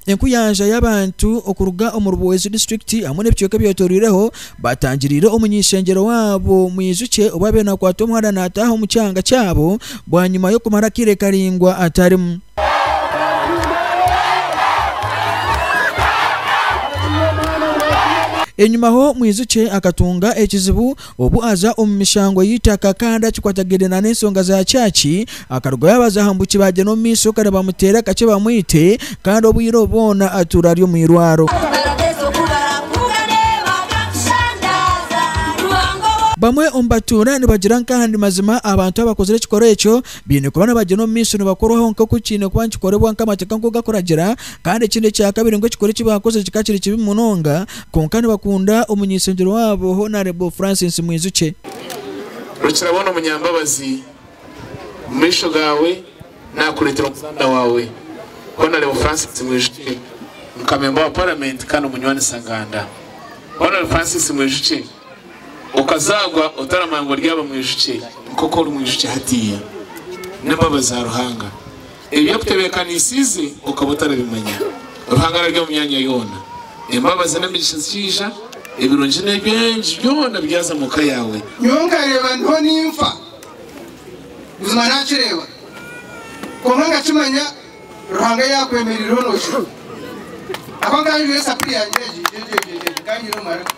Enkuyanja y'abantu okuruga omu Ruboozi disiturikiti hamwe n'ebicweka ebyetoreireho Baatangiriire omuny'ishengyero waabo. Mwijukye obu abaire naakwata omwana naataaha omu kyanga kyabo bwanyima y'okumara akaire karaingwa atarimu. Enyimaho mwijukye akatunga ekizibu obu aza omu mishango y'eitaka kandi akikwatagaine n'ensonga za kyaki Akaruga yabaza aha mbuki bagye n'omu maisho kare bamuteere akakye bamwite kandi obwire obu bwona atuura ari omu irwaro. Bamwe omu batuura nibagira nka aha ndi mazima abantu abakozire ekikoro ekyo baine kuba nabagye n'omu maisho nibakorwaho nka oku kiine kuba nikikoribwa nka amateeka nkoku gakuragira kandi ekindi ekya kabiri ngu ekikoro eki baakozire kikaba kiri kibi munonga kwonka nibakunda omunyeshengyerwa waabo Honarebo Francis Mwijukye. Rukirabona Omunyambabazi. Omu maisho gaawe naakureetera omuzaana waawe Honarebo Francis Mwijukye, muka memba wa Paramenti kandi omunywani Saganda. Honarebo Francis Mwijukye, okazaagwa otaramanya ngu oryaba Mwijukye nk'oku ori Mwijukye hatiiya. N'embabazi za Ruhanga. Ebi akutebeekanisiize okaba otarabimanya. Ruhanga arari omu myanya yoona. Embabazi n'emigisha zikiija, ebirungi n'eby'engi byona byaza mu ka yaawe. Nyowe nkareeba ndiho ninfa, buzima naakireeba, kwonka nkakimanya Ruhanga yaakwemereireho nookira. Ahabw'okuba nkaba njwire esapuri yangye egi, nkaba nyine omu maraka,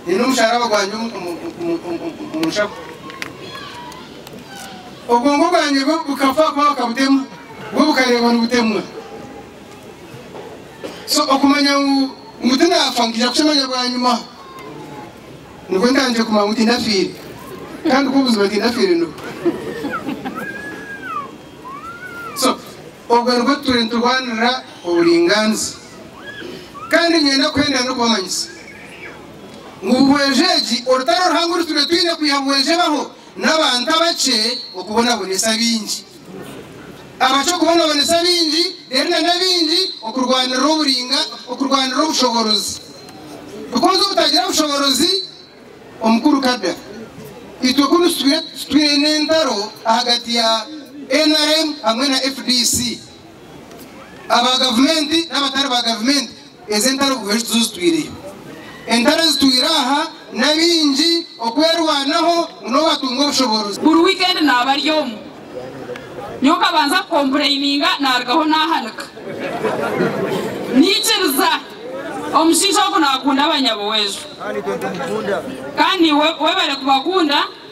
nyine omusharaba gwangye omu nshaho. Obwongo bwangye bwo bukafa kuba bakabutemu, bwo bukareebwa nibutemwa. So okumanya ngu ngu tinaafa nkaija kukimanya bwanyima. Nibwo ntandikire kumanya ngu tindafiire. Kandi ku buzima tindafiire nibwo. So obwo nibwo turiyo niturwanirira oburingaaniza. Kandi niinyenda kuhendera n'okubamanyisa ngu buhwezi egi orutaro ruhango oru turiyo twine kwiha buhwezi ebaho, n'abantu abakye okubonabonesa abaingi, abakye okubonabonesa abaingi, reero na n'abaingi okurwanirira oburinga, okurwanirira obushoboorozi. Bikozi obutagira bushoboorozi omu kuruka da. Itwe kunu twine entaro ahagati ya nrm hamwe na fdc, aba gavumenti n'abatari ba gavumenti Ezi entaro Kristo zozitwireyo. Entaro ezitwire aha n'abaingi okwerwanaho ngu nobu atunga obushoboorozi. Buri wikendi naaba ari omu. Nyowe nkabanza kukompurayininga naarugaho naahanika. Naikiriza. Omushaija ogwo naakunda abanyabuwejo. Kandi webare kubakunda.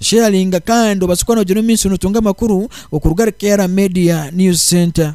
Sheyaringa kandi obaase kuba noogira omumaisho nootunga amakuru okuruga ahari Kayara Media News Centre.